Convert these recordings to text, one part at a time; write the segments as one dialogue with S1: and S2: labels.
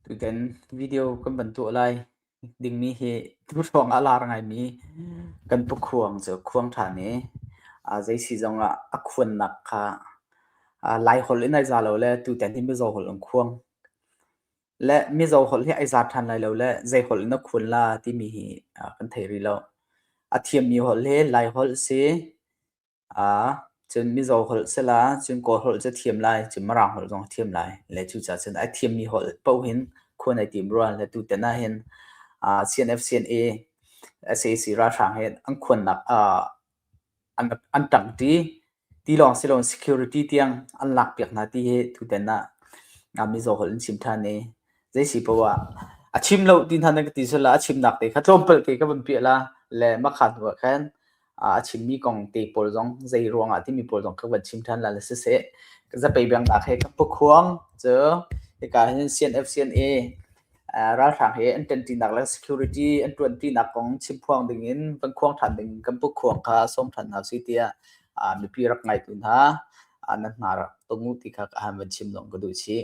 S1: Tutan video kan van tuah lai dingmi hi hruang ah lar ngaimi kan pukhuang cu khuang ṭhan i zeisi zongah a khuannak kha Lai holh in ai za lo le tutan hi Mizo holh in khuang le Mizo holh hi ai za ṭhan lai lo le zei holh in dah khuan la timi hi kan thei rih lo. A thiammi holh hi Lai holh si, Cun Mizo holh sila cun Kawl holh cu a thiam lai, cun Mirang holh zong a thiam lai. Le cucaah cun a thiammi holh paoh hin khuan ai tim rua. Le tutan ahhin CNF-CNA, sac ralhrang hi an khuannak an ṭang ṭi. Ti lawng si loin security tiang an lakpiak hna ti hi tutan ah Mizo holh an chim ṭhan i zeisi paoh ah a chim lo ti hna nan ka ti sulla a chimnak te kha tlawmpal te ka vun piah la le makha hnu ah khan a chimmi kong te pawl zong zei ruangah timi pawl zong ka van chim ṭhan la siseh ka zapei biangnak he ka pukhuang cu hika hin CNFCNA ralhrang he an ṭanṭinak le security an ṭuanṭinak kong chimphuang dingin van khuang ṭhan ding kan pukhuang kha sawm ṭhan hna si tiah mipi rak ngaitu hna nan hna rak tung u ti kha ka han van chim zong ka duh chih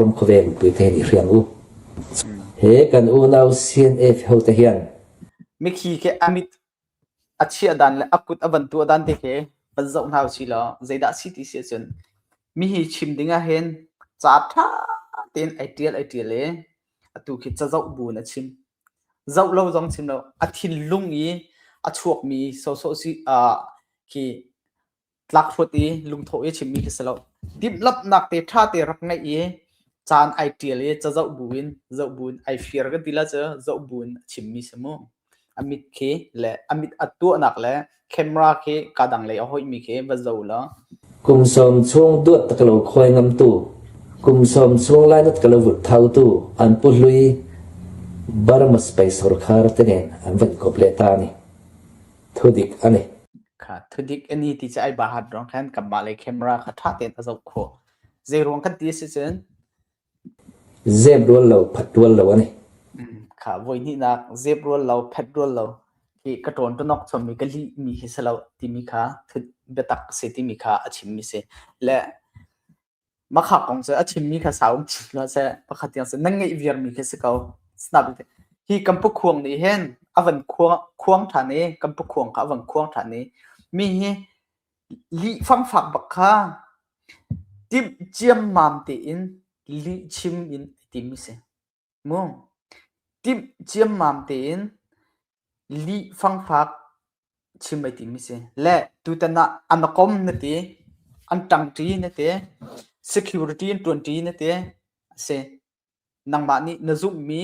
S1: Ram khuaveng puite nih hriang u. He kan unau CNF hote hian mikhi ke amit a chia dan le a kut a van tua dan te ke van zoh hna u si law zeidah si ti si cun mi hi chim ding ah hin ca tha tein ai tial ai tial e atu khi ca zoh bu in a chim zoh lo zong chim lo a thinlung i a chuak mi sawsawh si ah khi tlak hrut i lungthawh i chimmi khi si lo. Timhlamhnak te ṭha te rak ngeih i caan ai ṭial i cazoh bu in zoh bu in ai fir ka ti la cu zoh bu in a chimmi si mu. A mit khi le a mit a tuahnak le camera khi ka dang lei a hoihmi khi va zo law kum sawm chung duat tak lo khuai ngam tu kum sawm chung lainat ka lo vut thau tu an pu hlui Burma space rkhar te nen an van kop le ta ni thudik ani kha thudik ani ti cha ai bahat rong khan kan mah le camera kha tha ten a zok kho zei ruang kan ti si cun zem rual lo phat rual lo ani kha voi ni nak zep rual lo phat rual lo hi ka ton to nok chom mi ka li mi hi selo ti mi kha thut betak se ti mi kha a chim mi se le Makhak kong cu a chimmi kha sau um chih hlah seh. Pakhat tiang cu nan ngeih viarmi khi si ko. Sinabik te hi Kampukhuang nih hin a van khuang khuang ṭhan i Kampukhuang kha a van khuang ṭhan i mi hi lih fangfak bak kha timh ciammam tein lih chim in a timi si. Timh ciammam tein lih fangfak chim ai tim mi si. Le tutan ah an a kom na ti, an ṭangṭi na ti, security an ṭuanṭi na ti a si. Nangmah nih na zumhmi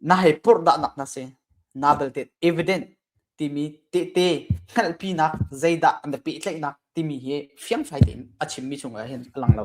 S1: na hei purhdahnak na si. Naa belte evident timi tehte hngalhpinak zeidah na pehtlaihnak timi hi fiangfai tein a chim mi chung ah hin a lang lo.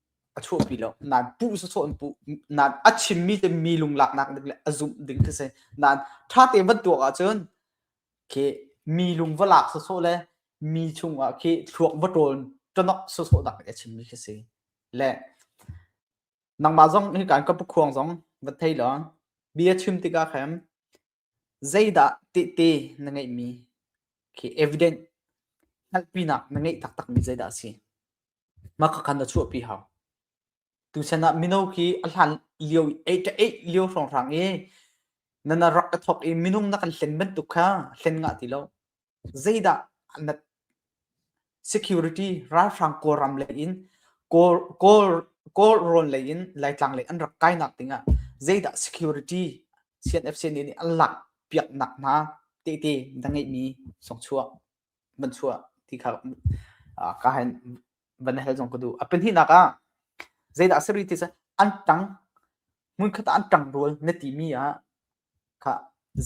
S1: a chuahpi lo nan puh sawsawh in puh nan a chimmi te mi lunglaknak ding le a zumh ding khi si nan ṭha te van tuak ahcun khi mi lung va lak sawsawh le mi chungah khi thluak va ṭawl ṭanok sawsawh dak a chimmi khi si le nangmah zong hi kan ka pukhuang zong va thei lo bia chim tikah khan Zeidah tehte na ngeihmi khi evident hngalhpinak na ngeih taktakmi zeidah a si? Mah kha khan na chuahpi hau. Tuchan ah mino khi a hlan lio i eight a eight lio hrawnghrang i na na rak a thawk i minung na kan hlen bantuk kha hlen ngah ti lo. zeidah na security ralhrang kawlram lei in kawl kawl kawl rawn lei in laitlang lei an rak kainak ding ah zeidah security CNFC nih an lak piaknak hna tehte na ngeihmi songchuah banchuah ti kha ka han van hel zong ka du a penhihnak ah zeidah seriti an tang hmunkhat an tang rual na timi ah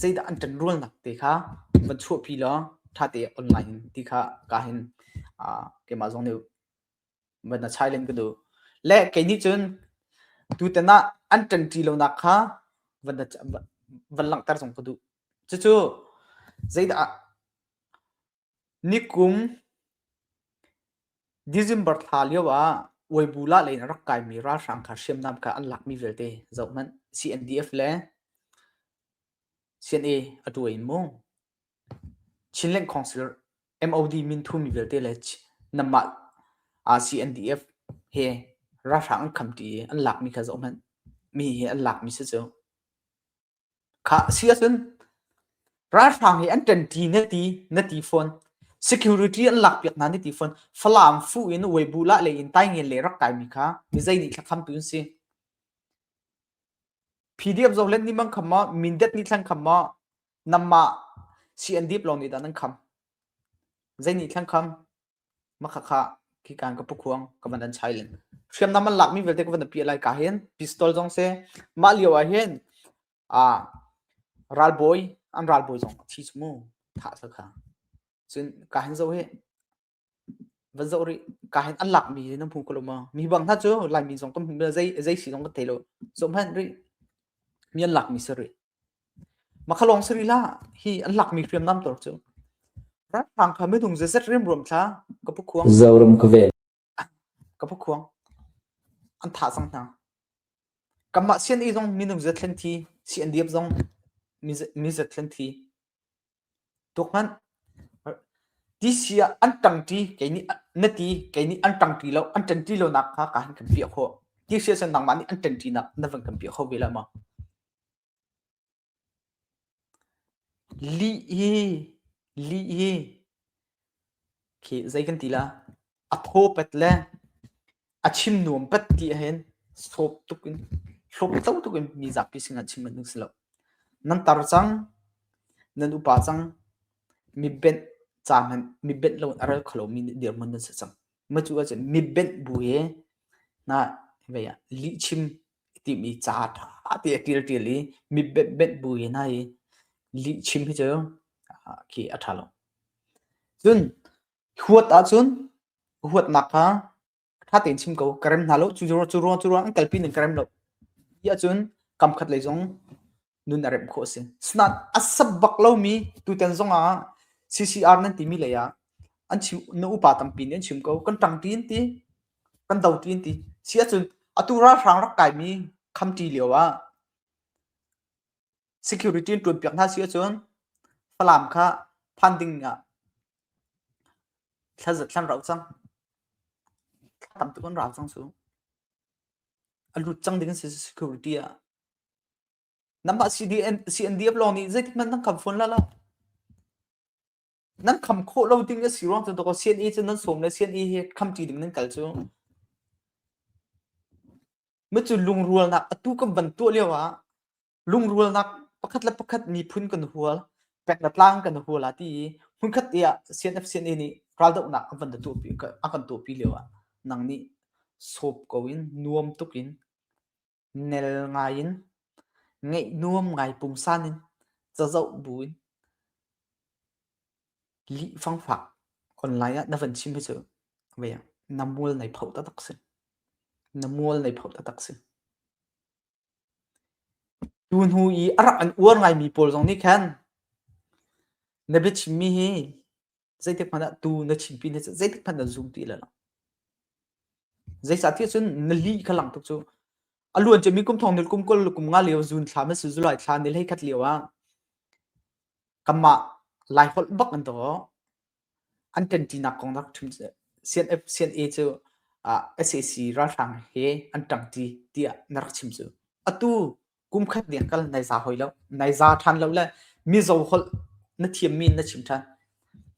S1: Zeidah an kan rualnak te kha van chuahpi law ṭhate on ngai in ti kha ka hin keimah zong nih va na chailen ka duh. Le kei nih cun tutan ah an ṭanṭi lonak kha van langhter zong ka duh. Cucu zeidah Nikum December thla lioah Uibu lah leiin a rak kaimi ralhrang kha hriamnam ka an lakmi vialte zohhmanh CNDF le CNA a tu in mu Chinland Council MOD min thumi vialte le nanmah CNDF he ralhrang an khamṭi i an lakmi kha zohhmanh mi hi an lakmi si cu. Khah a si ahcun ralhrang i an ṭanṭi na ti na ti fawn. Security an lakpiak hna na ti fawn. Falam fu in Weibulah lei in Taingen lei rak kaimi kha mizei nih thlakhamtu an si? PDF zohlen ni mang kham maw, Mindat ni thlang kham maw, namah CNDP lawng nih dah nan kham? Zei nih thlang kham? Makhakha khikan ka pukhuang ka van an chai len. Hriamnam an lakmi vialte ka van apiah lai ka hen. Pistol zong si. Mah lio ah hin ah ralbawi an ralbawi zong a thi cu mu thah sakha. Cun ka hen zoh hi van zoh rih ka hen an lakmi hi nan hmu ko lo maw? Mi bang hna cu Laimi zong kan hmu mila zei zei si zong kan thei lo. Zoh hmanh rih. Mi an lakmi si rih. Makhalawng sari la hi an lakmi hriamnam tor cu. Ralhrang kha minung zeizat riamruam thla ka pu khuang. Zoram ka ven. Ka pu khuang. An thah cang hna. Kanmah sian i zong minung zat thlen thi, si an diap zong mi zat thlen thi. Tuk hmanh. Tisi ah an ṭangṭi, kei nih na ti, kei nih an ṭangṭi lo, an ṭanṭi lo nak kha ka han kan piah khawh. Tisi ah cun nangmah nih an ṭanṭi nak na van kan piah kho ve la maw? Lih hi, lih hi, khi zei kan ti la? A thaw pet le a chim nuam pat ti hen sawp tuk in hlawp to tuk in mi zapi sinah chim an si lo nan tar cang nan upa cang mi benh ca hmanh mi benh lo a ral kholo mi nih dirman nan si cang ma cu ah cun mi benh bu he na vei ah li chim ti mi ca tha ti a tial tial i mi benh benh bu he na i li chim hi cu khi a tha lo cun Huat ahcun huatnak kha ṭha tein chim ko, ka rem hna lo. Cu cu cu cu ruang an kalpi ning ka rem lo. Ti ahcun kamkhat lei zong nun a remh khawh a si. Asinain a sap bak lomi tutan zongah CCR nan timi lei ah an chim na upa tampi nih an chim ko. Kan ṭang tiin ti, kan do tiin ti. Si ahcun atu ralhrang rak kaimi khamṭi lio ah security in ṭuan piak hna si ahcun Falam kha phan ding ah thlan rau cang thla tam tuk an rau cang su a lut cang ding si security ah namah CDN CNDF lawng nih zeitik hmanh nan kam phone la la nan kham khawh lo ding a si ruang cu toko CNE cu nan som le CNE he kham ti ding nan kal cu mu cu lungrualnak atu kan ban tuah lio ah lungrualnak pakhat le pakhat miphun kan hual pek le tlang kan hual a ti i hmunkhat i ah CNFCNA nih raldohnak a kan tuahpi a kan tuahpi lio ah nang nih sawp ko in nuam tuk in nel ngai in ngeih nuam ngai pungsan in cazoh bu in li fangfak online ah na van chim cu veng na mual nei pho ta tak si na mual nei pho ta tak si Cu hnu i a rak an uar ngaimi pawl zong nih khan na biachimmi hi zeitik hmanh ah tuu na chimpi na zeitik hmanh nan zum ti lo. Zeicah ticun na li kha lang tuk cu. A luan cemi kum thong nil kum kul le kum nga lio zun thla man si zulai thla nil hei khat lio ah kanmah Lai holh bak an daw. an ṭanṭinak kong nak ṭhum CNA cu SAC ralhrang he an ṭangṭi tiah na rak chim cu. Atu kum khat ding kal nai za hoi lo, nai za ṭhan lo le Mizo holh na thiammi na chim ṭhan.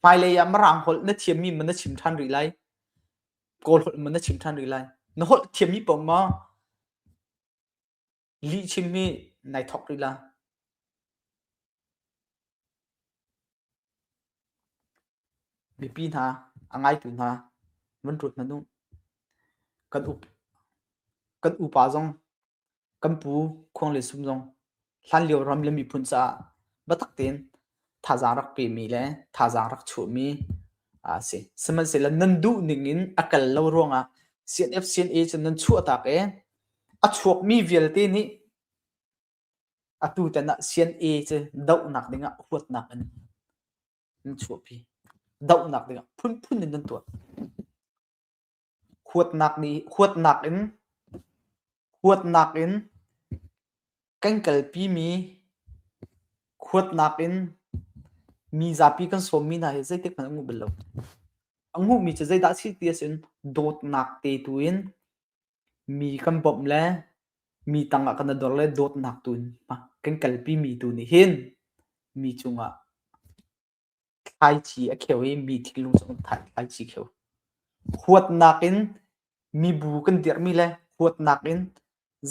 S1: Hmailei ah Mirang holh na thiammi maw na chim ṭhan rih lai, Kawl holh maw na chim ṭhan rih lai. Na holh thiammi paoh maw Lihchim hi nai thawk rih la. Mipi hna, a ngaitu hna, van rut hna nu. Kan up, kan upa zong, kan pu, khuang le sum zong, hlan lio ram le miphun caah batak tein thazaang rak pemi le thazaang rak chuhmi a si. Sihmanhsehlaw nan duhning in a kal lo ruangah CNFCNA cu nan chuahtak i a chuakmi vialte nih atu tan ah CNA cu dohnak dingah huatnak in nan chuahpi. Dohnak dingah phunphun in nan tuah. Huatnak in kan kalpi mi, huatnak in mi zapi kan sawmmi hna hi zeitikhmanh a nguh bal lo. A nguhmi cu zeidah a si ti ahcun dawtnak te tu in mi kan bawmh le mi tangah kan i dor le dawtnak tu in kan kalpi mi tu nih hin mi cungah Thlaici a kheu i mi thinlung zong thlaici a kheu. Huatnak in mibu kan dirhmi le huatnak in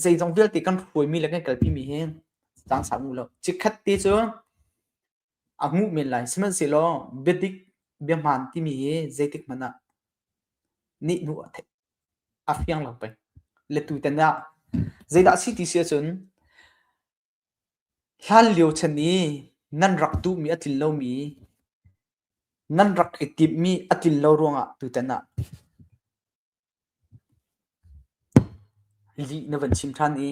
S1: zeizong vialte kan hruaimi le kan kalpimi hi zangsang u law chikkhat te cu a nguh men lai. Sihmanhsehlaw biadik biahmaan timi hi zeitik hmanh ah nihnuh a theih, a fiang lo pei. Le tutan ah zeidah a si ti si ahcun Hlanlio chan i nan rak duhmi a tlin lomi, nan rak i timhmi a tlin lo ruangah tutan ah lih na van chim ṭhan i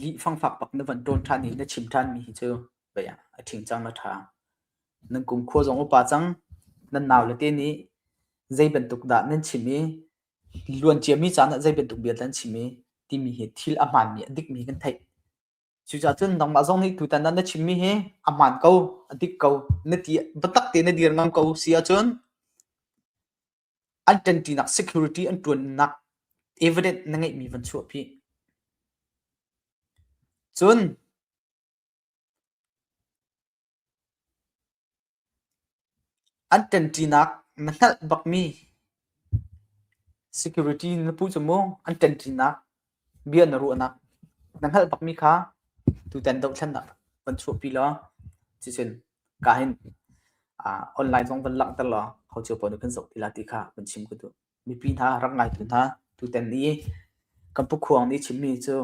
S1: lih fangfak bak na van ṭawn ṭhan i na chim ṭhanmi hi cu bei ah a ṭhing cang a ṭha. Nan kumkhua zong a upa cang. Nan naule te nih zei bantuk dah nan chim i luanciami caan ah zei bantuk bia dah nan chim i timi hi thil a hmaanmi, a dikmi kan theih. Cucacun nangmah zong nih tutan nan na chimmi hi a hmaan ko, a dik ko. Na ti biatak tein na dir ngam ko si ahcun an ṭanṭinak security an ṭuannak evidence na ngeihmi van chuahpi. Cun An ṭanṭinak na hngalh bakmi security na pu cu mu an ṭanṭinak bia na ruahnak na hngalh bakmi kha tutan dohthlennak van chuahpi law cucun ka hin aa online zong van langhter law ho cio paoh nih kan zoh ti la ti kha van chim ka duh. Mipi hna rak ngaitu hna tutan i kan pukhuang nih chimmi cu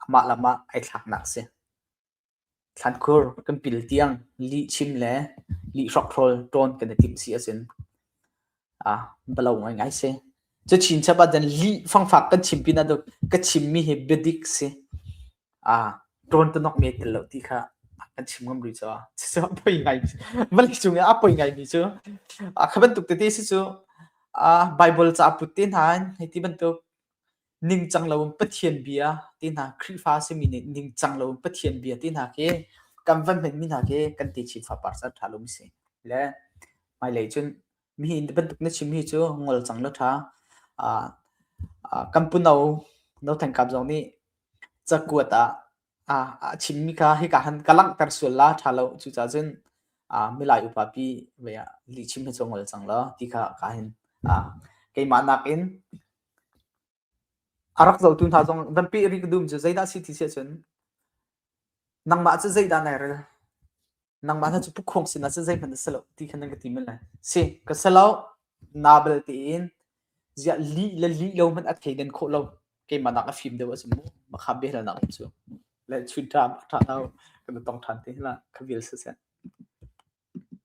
S1: amah lam ah ai thlaknak a si. Thlankhur kan pil tiang lihchim le lihrawkhrawl ṭawn kan i timh si a si. Bia lo ngaingai si. Cu chinchap ahcun lih fangfak kan chim pinah duk ka chimmi hi biadik si. Ṭawn tunok mee tel lo ti kha kan chim ngam rih caah cucaah poi ngai vali cung i a poi ngaimi cu kha bantuk tete si cu Baibal caput te hna in hiti bantuk ningcang loin Pathian bia ti hna Khrihfa simi nih ningcang loin Pathian bia ti hna khi kan van hmenmi hna khi kan ti chim fa par san tha lo mi si le hmailei cun mi hi bantuk na chim hi cu ngol cang lo tha kan puno no than kam zong nih cakuat ah a chimmi kha hika han ka langhter sual la tha lo cucah cun milai upapi ve ah lihchim hi cu ngol cang lo ti kha ka hin keimah nakin A rak zohtu hna zong van peh rih ka dum cu zeidah a si ti siah cun nangmah cu zeidah nai rel? Nangmah hna cu pukkhawng sinah cun zeihmanh a si lo ti khan nan ka ti mil ai. Si, ka si lo, nabal tein ziah lih le lih lo hmanh a thleidan khawh lo. Keimah nak a fim deuh ahcun mu. Makha biahal nak um cu. Le chun ṭha, ṭha lo. Kan i tong ṭhan te hlah. Ka vial siseh.